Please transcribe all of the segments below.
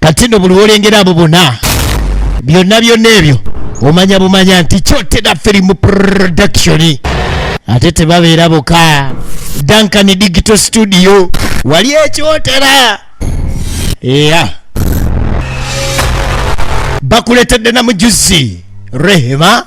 kati no buli wolengera abo bona byonna byonna ebyo omanya bumanya nti kyotera film production ate tebabeera boka duncan digital studio wali ekyotera eya bakuletedde namujuzi rehema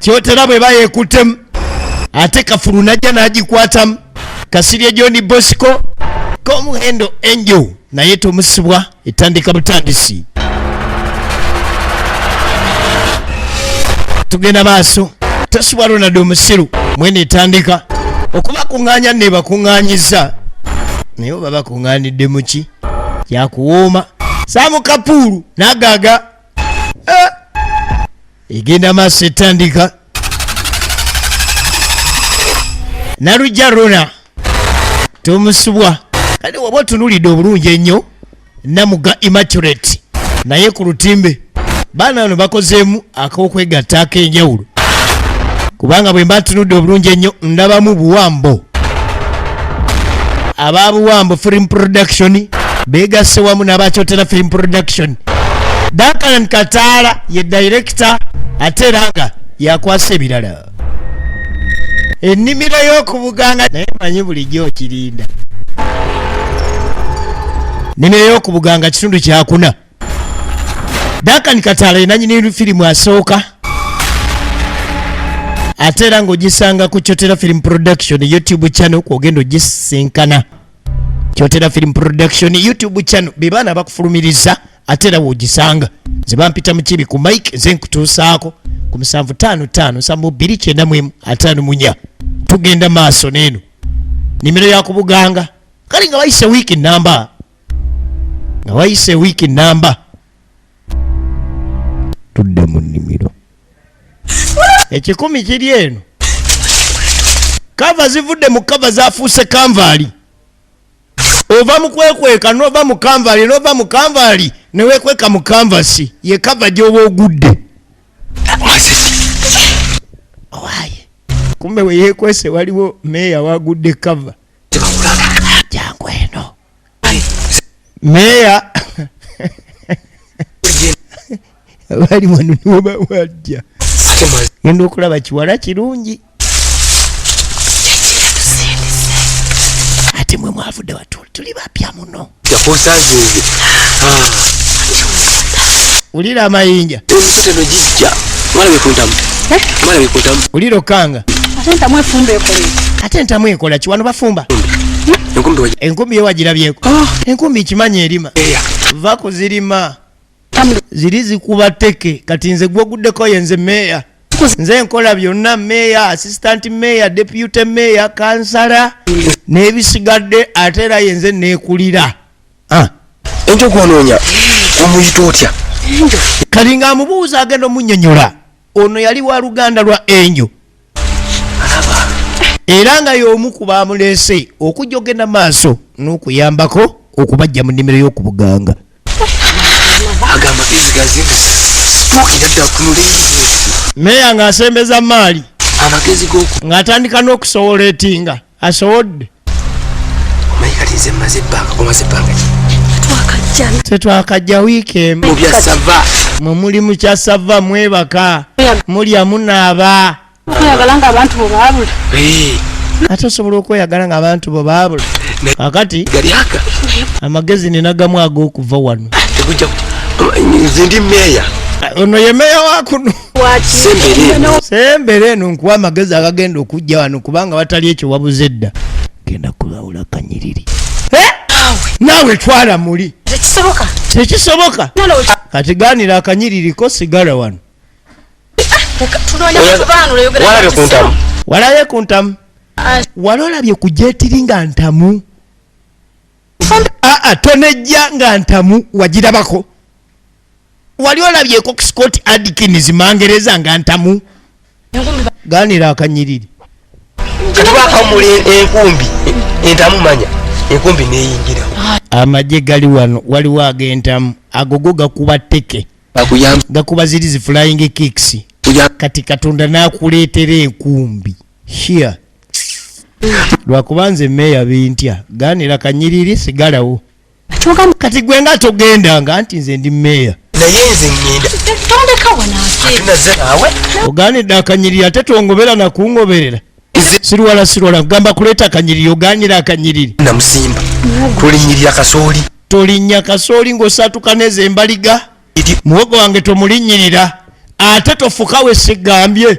kyotera bwe bayekutemu ate kafulu najja n'agikwatamu kasirye john bosco komuhendo angel naye tomusibwa etandika butandisi tugenda maaso tosibwa ronald omusiru mwene etandika okubakuŋŋaanya nebakuŋŋaanyiza naye oba bakuŋŋaanidde muki kyakuwooma saamu kapuulu nagaaga eh! egenda maaso etandika nalujja rona tomusubwa kale waba otunulidde obulungi ennyo namuga immaculate naye ku lutimbe baana bano bakozeemu ak'okwegatta ak'enjawulo kubanga bwe mba tunudde obulungi ennyo ndabamu buwambo aba buwambo film production beegasse wamu n'abakyotera film production dakan kataala ye director ate era nga yakwasa ebirala ennimiro y'okubuganga naye manyi bulijjo okirinda nnimiro y'okubuganga kitundu kyakuna Duncan Katala ye nannyini firimu asooka ate era ng'ogisanga ku Kyotera Film Production YouTube channel kwogenda ogisisinkana Kyotera Film Production YouTube channel be baana bakufulumiriza ate era w'ogisanga nze bampita mu kibi ku mike nze nkutuusaako ku musanvu taano taano nsanvu bbiri kyenda mu emu ataano munya tugenda maaso n'eno nimero yakubuganga kale nga bayise wiiki namba nga wayise wiiki namba tudde mu nnimiro ekikumi kiri eno kava zivudde mu kava zafuuse kanvaali ova mu kwekweka nova mu kanvaali nova mu kanvaali newekweka mu kanvasi ye kava gyoba ogudde owaye kumbe weyekwese waliwo meeya wagudde kava meeya bali wano niwobawajja genda okulaba kiwala kirungi ate mwe mwavudde watuli tuli bapya muno wulira amayinja wulira okanga Ate ntamu efumba ekola ki? Ate ntamu ekola ki? Wano bafumba. Enkumbi yo wagirabyeko. Ah. Enkumbi ikimanyi erima. Va kuzirima. Ziri zikuba teke. Kati nze gwoguddeko yenze meya. Nze nkola byonna meya, assistant meya, deputy meya, kansala. N'ebisigadde ate era yenze neekulira. Ah. Enjoku onoonya omuyita otya? Kalinga amubuuza agenda omunyonyola. ono yali wa luganda lwa enjo era nga y'omu ku baamuleese okujja ogenda maaso n'okuyambako okubajja mu nnimiro y'okubuganga meeya ng'asembeza maali ng'atandika n'okusowola etinga asowodde mayikalize maze ebbanga omaze ebbanga tetwakajja wiiki emu bya sava mwe muli mu kya sava mwebaka mulya munaaba okweyagala nga abantu bo baabula ate osobola okweyagala nga abantu bo baabula akati amagezi ninagamu ag'okuva wano ah, ono ye meeya wakuno sembere eno nkuwa amagezi agagenda okujja wano kubanga watali ekyo wabuze edda genda kulawula kanyiriri eh? naawe twala muli tekisoboka kati ganira akanyiririko sigala wano walaye ku ntamu ah. wali olabye ku jetiri nga ntamu aa ah, ah, tonejja nga ntamu wagirabako wali olabyeko scott adkins mangereza nga ntamu ganira akanyiriri katwakamula enkumbi entamu manya enkumbi neyingira amagye gali wano waliwo agentamu agogo gakuba teke gakuba ziri zi flying kicks kati katonda nakuleetera enkumbi here lwakuba nze meeya bintya ganira kanyiriri sigalawo Kyogamba kati gwe nga togenda nga anti nze ndi meeya. Naye nze ngenda. Tondeka wano ate. Tuna ze nawe. Ogani da kanyiri ate tongobera na kungoberera. Sirwala sirwala gamba kuleta kanyiri oganyira akanyiri. Na musimba. Kuli nyiri ya kasoli. Toli nya kasoli ngo satu kaneze mbaliga. Muogo wange tomulinyirira. Ate tofukawe sigambye.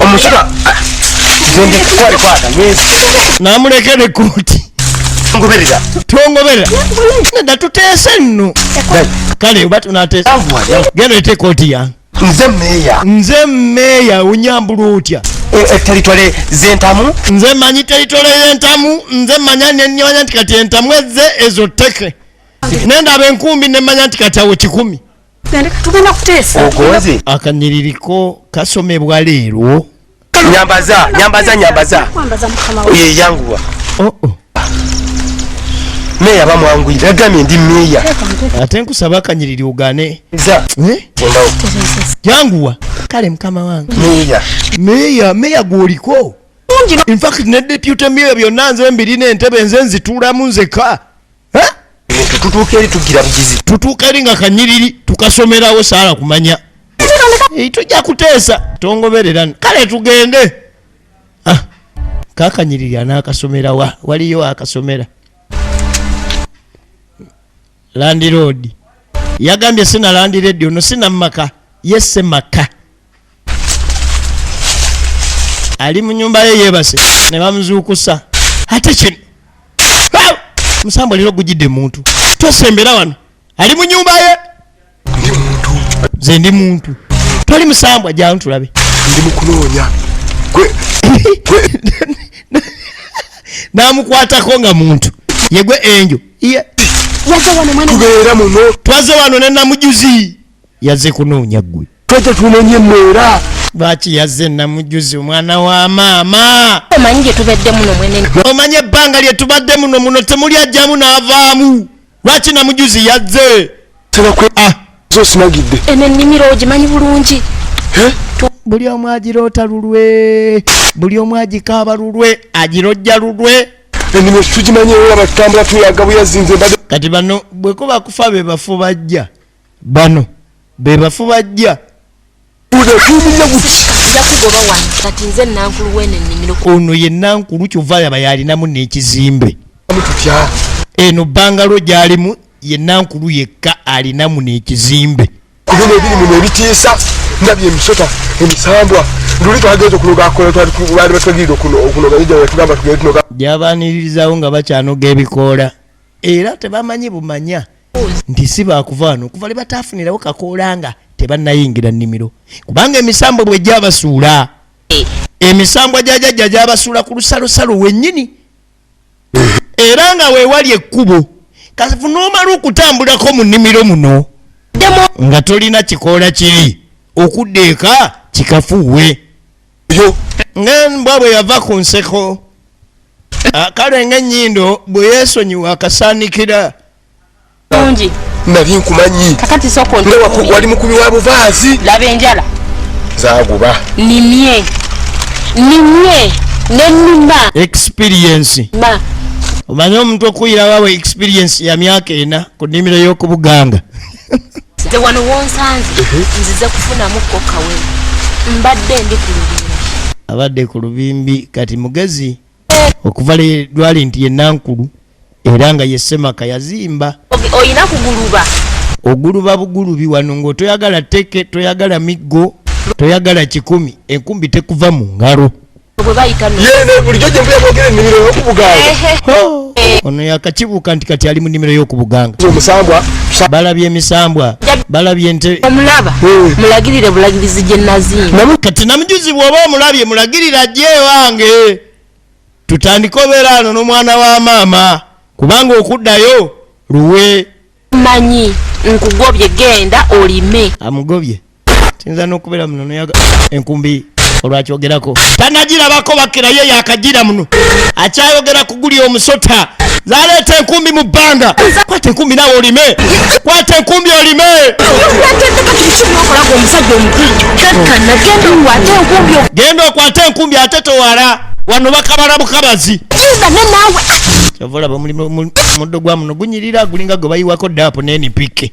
omusika zende kwali kwata mwezi namuleke ne koti ngoberera tongoberera neda tuteese nno kale oba tunateesa genda ete koti yange nze meeya nze meeya onyambula otya e, e, teritole zentamu nze manyi teritole yentamu nze manya nenimanya nti kati entamu ezze ezo teke nendaba enkumbi nemanya nti kati awo kikumi tugenda kuteesa ogoze akanyiriko kasomebwa leero nyambaza nyambaza nyambaza ye yanguwa oh oh meya bamwangwira agamye ndi meya ate nkusaba akanyiriri ugane eh? yanguwa kale mukama wange meya meya meya gwoliko infact ne deputy meya byonna nze mbirina entebe nze nzituulamu nzeka tutuuka eri tugira bugizi tutuuka eri nga kanyiriri tukasomerawo saala kumanya tujja kuteesa tongoberera kale tugende ah, kakanyiriri anaakasomera wa waliyo akasomera landiroodi yagambye sina landireedi ono sina mumaka ye semaka ali mu nyumba ye yebase ne bamuzuukusa ate kino musambwa leero gujidde muntu tosembera wano ali mu nyumba ye nze ndi muntu toli musambwa janu tulabe ndi mukunoonya namukwatako nga muntu yegwe enjo tubeera muno twaze wano ne namujuzi yaze kunoonya gwe twete tunonye mwera lwaki yazze namujuzi omwana wa maama omanyi gyetubadde muno mwene omanyi ebbanga lyetubadde muno muno temuli ajjamu n'avaamu lwaki namujuzi yazze tebakwe ah. zosimagidde eno ennimiro ogimanyi bulungi buli omu agiroota lulwe buli omu agikaaba lulwe agirojja lulwe ennimiro tugimanyi era batutambula tuyaga buyazinze kati bano bwekuba kufa be bafu bajja bano bebafu bajja ono ye nankulu kyova yaba yalinamu nekizimbe eno bangalo gyalimu ye nankulu yekka alinamu nekizimbe kubino ebirimu nebitiisa ndabye emisota emisambwa luli twagenze okunogakolatwalibatwagirira okunoga gyaba tugenda tunoga gyabaniririzawo nga bakyanoga ebikoola era tebamanyi bumanya nti si baakuvaano okuva lwe bataafunirawo kakoola nga tebannayingira nnimiro kubanga emisambwa bwe gyabasuula emisambwa gya jajja gyabasuula ku lusalosalo wennyini era nga weewali ekkubo kafu n'omala okutambulako mu nnimiro muno nga tolina kikoola kiri okudda eka kikafuuwe yo nga mbwa bwe yava ku nseko ah, kale nga ennyindo bwe yeesonyiwa akasaanikira bungi nali nkumanyi kakati soko wali mukubi wa buvaazi laba enjala zaguba nimye nimye nenima experience ma omanyi omuntu okuyira wawe experience ya myaka ena ku nimiro y'okubuganga nze wano wonsanze nzize kufunamu kokawe mbadde ndi ku lubimbi abadde ku lubimbi kati mugezi okuva lwali nti yenankulu era nga yesemaka yazimba olina kuguluba oguluba bugulubi wano ngaotoyagala teke toyagala miggo toyagala kikumi enkumbi tekuva mu ngalo ono yakakibuuka nti kati ali mu nimiro y'okubuganga balabye emisambwa balabye nte omulaba hmm. mulagirire bulagirizi gye naziina kati namujuzi bwoba omulabye mulagirira gye wange tutandike obeera ano n'omwana wa maama kubanga okuddayo luwe manyi nkugobye genda olime amugobye kiyinza n'okubeera muno noyaga enkumbi olwakyogerako tanagirabako bakira ye yakagira muno akyayogera kuguli omusota zaleeta enkumbi mu bbanga kwata enkumbi nawe olime kwata enkumbi olime genda okwata enkumbi ate towala wano bakabala bukabazi kyovolaba muddo gwa muno gunyirira gulinga gwe bayiwako daapo nenipike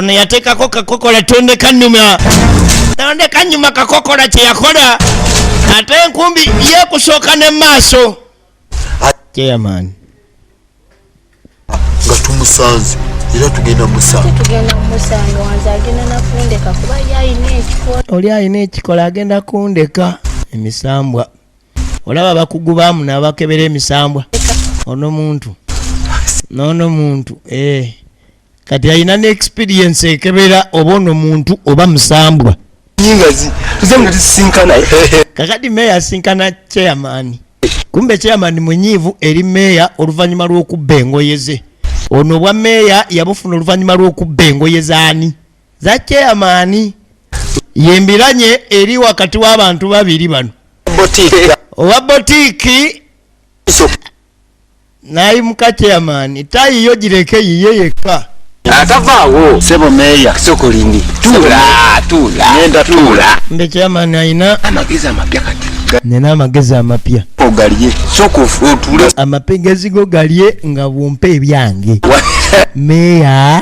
ono yateekako kakokola tonde kanyuma tonde kanyuma kakokola kyeyakola ate enkumbi yekusooka ne maaso chairman nga tumusanze era tugenda musangaoli alina ekikola agenda kundeka emisambwa olaba bakugu bamu nabakebera emisambwa ono muntu nono muntu ee eh. kati alina ne experience ekebera oba ono muntu oba musambwa nyingazi tuze nga tusisinkana kakati meya asinkana chairman kumbe chairman munyiivu eri meya oluvannyuma lw'okubba engoye ze ono obwa meya yabufuna oluvannyuma lw'okubba engoye zaani za chairman yembiranye eri wakati w'abantu babiri bano owa botiiki nayimuka chairman tayi yo gireke yiye yekka atavaawo sebo meeya sokolindi tuula tuula ngenda tuula mbe chairman ayina amagezi amapya kati nina amagezi amapya ogalye soka otuule amapegezi go galye nga bwompa ebyange meeya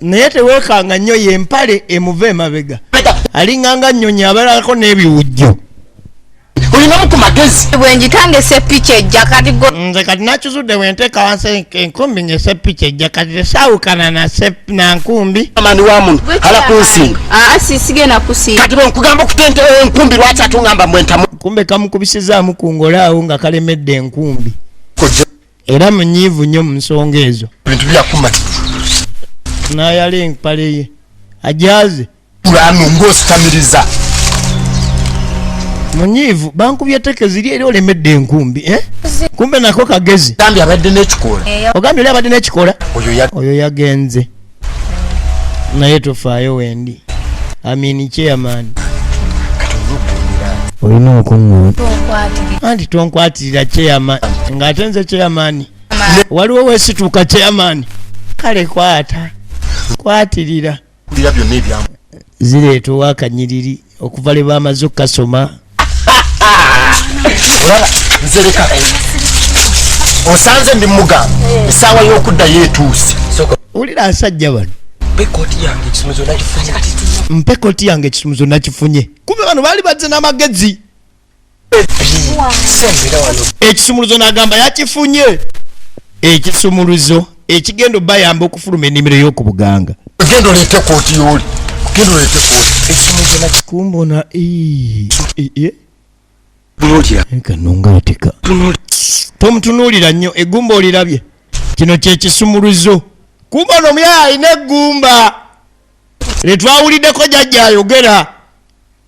naye tewekanga nnyo yempale emuva emabega alinganga nnyonyi abalako n'ebiwujjo olinamu ku magezi bwenjitanga esepiki ejja kati nze kati nakizudde bwenteeka wansi enkumbi nga esepiki ejja kati tesaawukana nankumbi amani wa muno ala kunsinga ah, sisigenda kusinga kati bwenkugamba okutenta enkumbi lwaki atungamba mbwentamu kumbe kamukubisizaamu ku ngolaawo nga kalemedde enkumbi era munyiivu nnyo mu nsonga ezo bintu byakumati nayala empale ye ajaze kulano ng'ositamiriza munyiivu bankubye teke ziri era olemedde enkumbi eh? kumbe nako kagezi ogambye oli abadde n'ekikola oyo yagenze naye tofaayo wendi amini chairman olina okuŋŋoona anti tonkwatirira chairman ng'ate nze chairman waliwo wesituuka chairman kale kwata kwatirira zireeta owakanyiriri okuva lwe bamaze okukasoma olaba nzereka osanze ndi mugamba esaawa y'okuddayo etuuse olira asajja bano mpe koti yange ekisumuzo nakifunye kuba bano baali bazze n'amagezi ekisumuluzo n'agamba yakifunye ekisumuluzo ekigenda obayamba okufuluma enimiro y'oku buganga genda oleete kooti yooli genda oleete kooti ekisumuluzo nakikumbona kanongaateka tomutunuulira nnyo egumba olirabye kino kyekisumuluzo kumba ono omuyaya alina egumba lye twawuliddeko jajja ayogera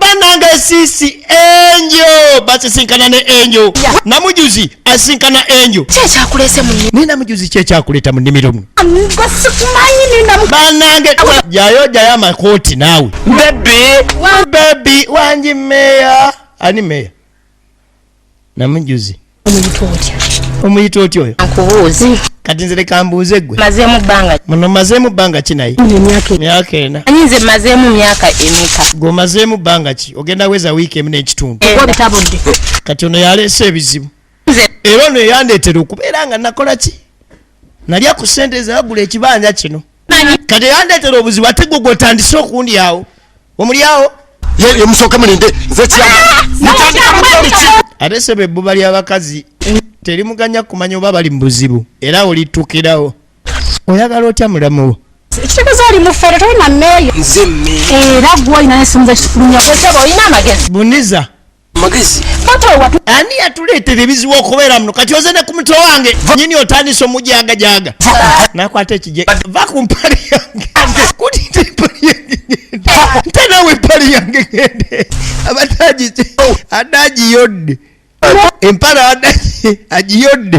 banange sisi enjo basisinkana ne enjo namujuzi asinkana enjo kyekyakulese mu ni namujuzi kyekyakuleta mu nimiro mu banange jayo jayo amakooti naawe bebi bebi wanji meya ani meya namujuzi omuyita otya oyo nkubuuzi kati nze leka mbuuze gwe mazemu bbanga muno mazemu bbanga ki naye myaka ena anyi nze mazemu myaka emeka gwe mazemu bbanga ki ogenda weza wiiki emu n'ekitundu kati ono yaleese ebizibu era ono eyandeetera okubeera nga nakola ki nalya ku sente zagula ekibanja kino kati yandetera obuzibu ate gwe gwotandise okundi awo omulyawo yemusooke mulinde nze ate sebo ebbuba ly'abakazi terimuganya kumanya oba bali mu buzibu era olitukirawo oyagala otya mulamu wo ekitegeeza oli mufere tolina mmeeyo era gwolina nesomuza kikulumya gwesaba olina amagezi buniza magezi ani yatuleetera ebizibu okubeera muno kati oze ne ku mutwe wange nyini otandisa omujagajaga nakwata ekije va ku mpali yange kutita empali yange nte nawe empali yange gende abadde agiyodde empala abadde agiyodde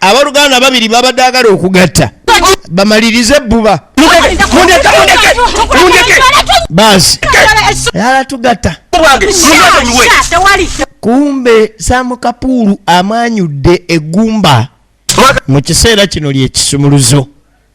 abaluganda babiri babadde agala okugatta bamalirize ebbuba baasi yala tugatta kumbe samukapuulu amanyudde egumba mu kiseera kino lyekisumuluzo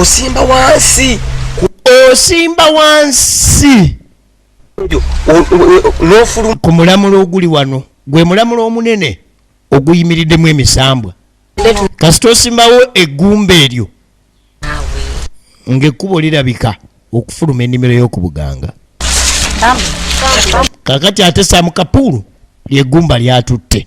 osimba wansi osimba wansi nofulu ku mulamula oguli wano gwe mulamula omunene oguyimiriddemu emisambwa kasita osimbawo eggumba eryo ng'ekkubo lirabika okufuluma ennimiro y'oku buganga kakati ate samukapuulu lyegumba lyatutte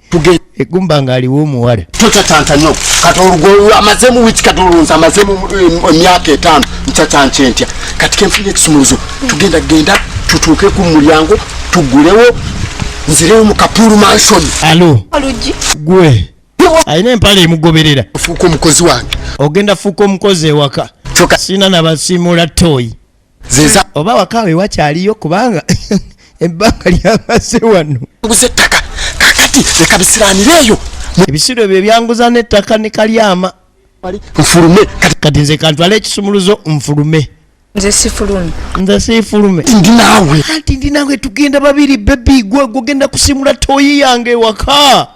egumba nga aliwo omuwala tocacancanyo kati olugolwo amazemu wiki kati olunza amazemu emyaka etaano ncacanca entya kati kenfuna ekisumuluzo tugenda genda tutuuke ku mulyango tugulewo nzireyo mu kapulu mansion alo gwe alina empala emugoberera fuuka omukozi wange ogenda fuuka omukozi ewaka sina nabasimuula toyi zeza oba wakawe wakyaliyo kubanga ebbanga lyamaze wano nguze ettaka kakati leka bisiranire eyo ebisiro ebyo ebyanguza n'ettaka ne kalyama nfulume kati nze kantwala ekisumuluzo nfulume nze sifulume nze sifulume ndi naawe anti ndi naawe tugenda babiri bebi gwe gugenda kusimula toyi yange ewaka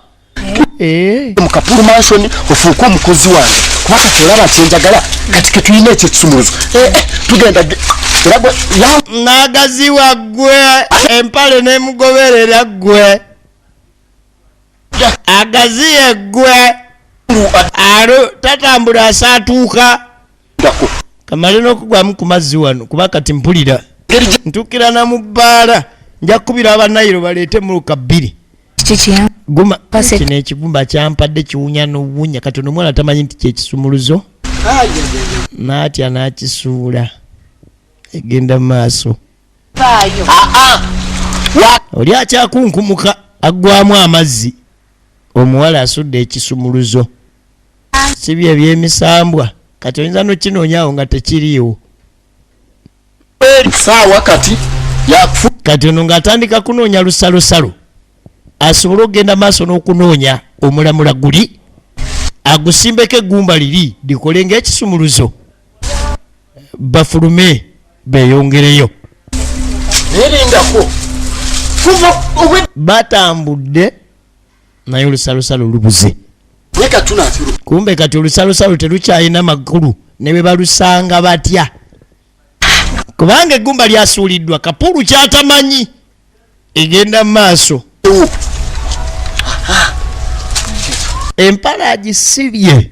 Eh. mu kapulu mansion ofuuka omukozi wange kuba kati olaba nti enjagala kati ketulina ekyo ekisumuluzo eh, eh, tugenda nagaziwa gwe empale nemugoberera gwe agaziye gwe tatambula asaatuuka kamale n'okugwamu ku mazzi wano kuba kati mpulira ntukira na mu bbaala nja kukubira abanayiro baleete muluka bbiri kino ekigumba kyampadde kiwunya n'obuwunya kati ono omwana tamanyi nti kyekisumuluzo naatya n'akisuula egenda maaso ah, ah. oli akyakunkumuka aggwamu amazzi omuwala asudde ekisumuluzo si bye byemisambwa kati oyinza nokinoonyawo nga tekiriiwo saawa kati yakufu kati ono ng'atandika kunoonya lusalosalo asobole okugenda maaso n'okunoonya omulamula guli agusimbeko eggumba liri likole ng'ekisumuluzo bafulume beyongereyo batambudde naye olusalosalo lubuze kumbe kati olusalosalo telukyalina makulu ne bwe balusanga batya kubanga eggumba lyasuuliddwa kapulu kyatamanyi egenda mu maaso empala agisibye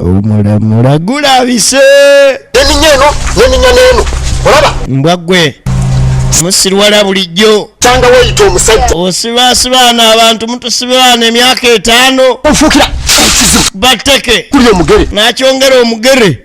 omulamula gulabise neninya eno neninya neeno olaba mbwa gwe musirwala bulijjo tanga weyita omusajja osibasibaana abantu mutusibaana emyaka etaano ofuukira bateke kuli omugere nakyongera omugere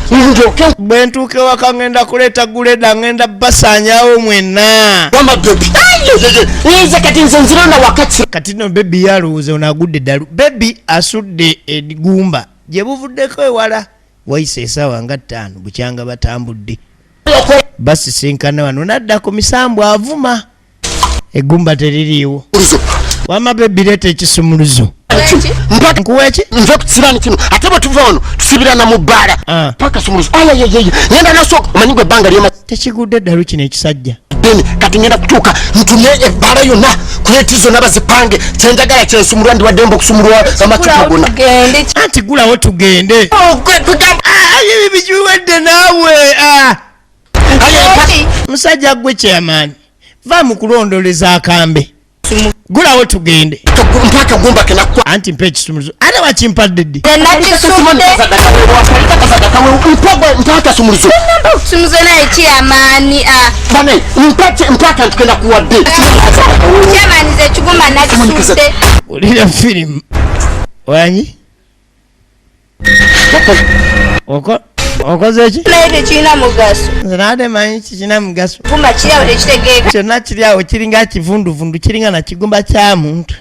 bwe ntuuka ewaka ŋŋenda kuleeta guleda ŋŋenda basaanyawo mwena kati no bebi yalowooza ono agudde ddalu bebi asudde egumba gye buvuddeko ewala wayise esaawa nga ttaano bukyanga batambudde basisinkana wano nadda ku misambu avuma egumba teririiwo wama bebi leeta ekisumuluzo nkuwa eki nva ku kisiraani kino ate bwe tuva wano tusibirana mu bbaala ah. paka sumuluzo ayayeyeye ngenda nasooka omanyi gwe ebbanga lyoma tekigudde eddalu kino ekisajja deni kati ngenda kutuuka ntumye ebbaala yonna kuleti zonna bazipange kyenjagala kyensumulwa ndiwaddemba okusumulwa amacupa gona anti gulawo tugende oh, ah, bijuwedde naawe ah. musajja gwe chairman va mu kulondoleza akambe gulawo tugende anti mpa ekisumuluzo ate wakimpadde ddi olira firimu wanyi okoze eki naye tekirina mugaso nze nade manyi kikirina mugaso gumba kiryawo tekitegeeka kyonna kiryawo kiringa kivunduvundu kiringa na kigumba kya muntu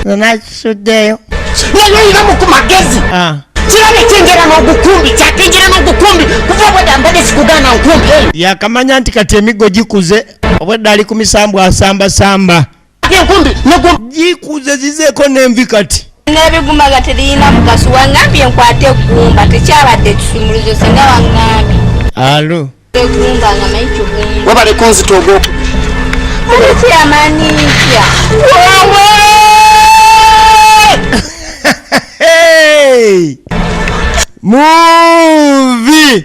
nze nakisuddeyo naye olinamu ku magezi ah. kirabye kyengera n'ogukumbi kyatenjera n'ogukumbi kuva obwedda mbadde sikugaana nkumbi yakamanya nti kati emiggo gikuze obwedda ali ku misambwa asambasamba gikuze zizeeko n'envi kati n'ebiguma nga teriyina mugaso wangambye nkwate eggumba tekyabadde ekisumuluzo singa wangambye alo eggumba nga manyi kigumba webale kunzita ogwoku oliki amaanyi ntya muvi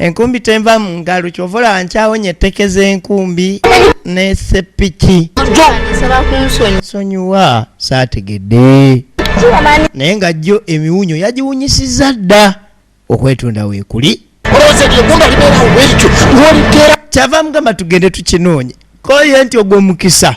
enkumbi tenva mu ngalo kyova olaba nkyawonye etteke z'enkumbi nesepiki sonyiwa saategedde naye nga jjo emiwunyo yagiwunyisiza dda okwetunda weekuli kyava mugamba tugende tukinoonye koye nti ogwo mukisa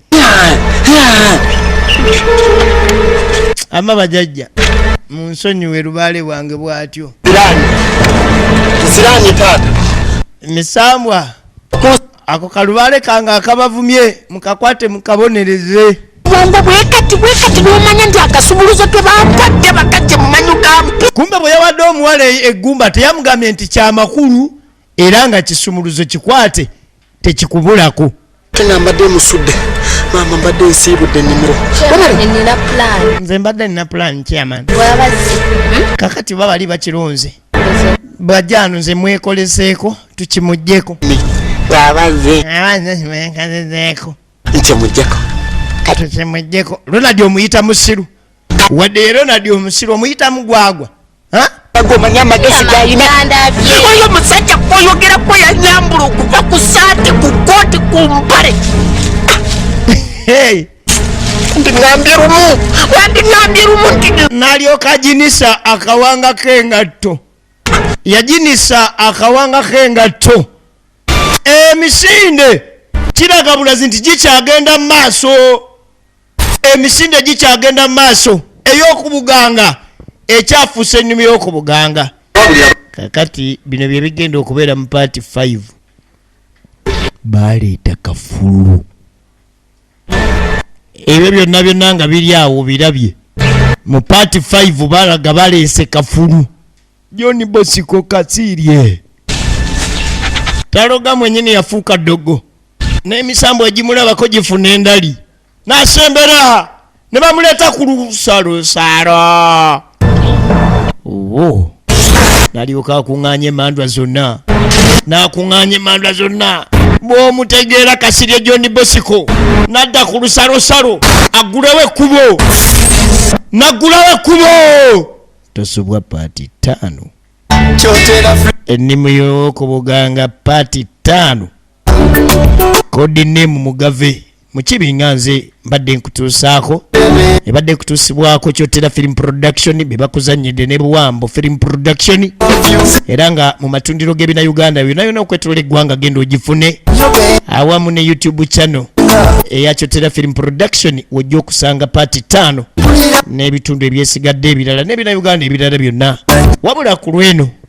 ama bajajja munsonyiwe lubaale bwange bwatyo misambwa ako kalubaale kange akabavumye mukakwate mukabonereze bwongo bwekati bwekati nomanya nti akasumuluzo tebampadde bakajje mumanyu gampi kumbe bwe yawadde omuwala eggumba teyamugambye nti kyamakulu era nga kisumuluzo kikwate tekikubulako kena mbadde musudde maama mbadde nsiibudde ennimiro nze mbadde nina pulaani chairman hmm? kakati ba bali bakirunze bwajjaano nze mwekoleseeko tukimuggyeko abazeeko nkyemuggyeko tukimuggyeko ronald omuyita musiru wadde ye ronald omusiru omuyitamu gwagwa gomanya amagezi galina oyo musajja kwoyogerako yanyambula okuva ku saati ku kooti ku mpale ndingambye lumu wandingambye lumu nti nalyoka jinisa akawanga k'engatto yajinisa akawanga k'engatto emisinde kiragabulazi nti gikyagenda mu maaso emisinde gikyagenda mu maaso ey'okubuganga ekyafuusa ennimi y'okubuganga kakati bino bye bigenda okubeera mu paati 5 baaleeta kafulu ebyo byonna byonna nga biri awo birabye mu paati 5 balaga baleese kafulu john bosiko kasiirye taloga mwenyini yafuuka ddogo n'emisambo egimulabako gifuna endali n'asembera ne bamuleeta ku lusalusaalo wo nalyoka akuŋŋaanya emandwa zonna n'akuŋŋaanya emandwa zonna bw'omutegeera kasirye john bosiko n'adda ku lusalosalo aggulawo ekkubo n'aggulawo ekkubo tosubwa paati ttaano ennimu y'okubuganga paati ttaano kodi nemu mugave mukibi nga nze mbadde nkutuusaako ebadde kutuusibwako kyotera film production bebakuzanyidde ne buwambo film production era nga mu matundiro g'ebina uganda yona yona okwetolola eggwanga genda ogifune awamu ne youtube channel eya kyotera film production wojja okusanga paati ttaano n'ebitundu ebyesigadde ebirala n'ebina uganda ebirala byonna wabula ku lweno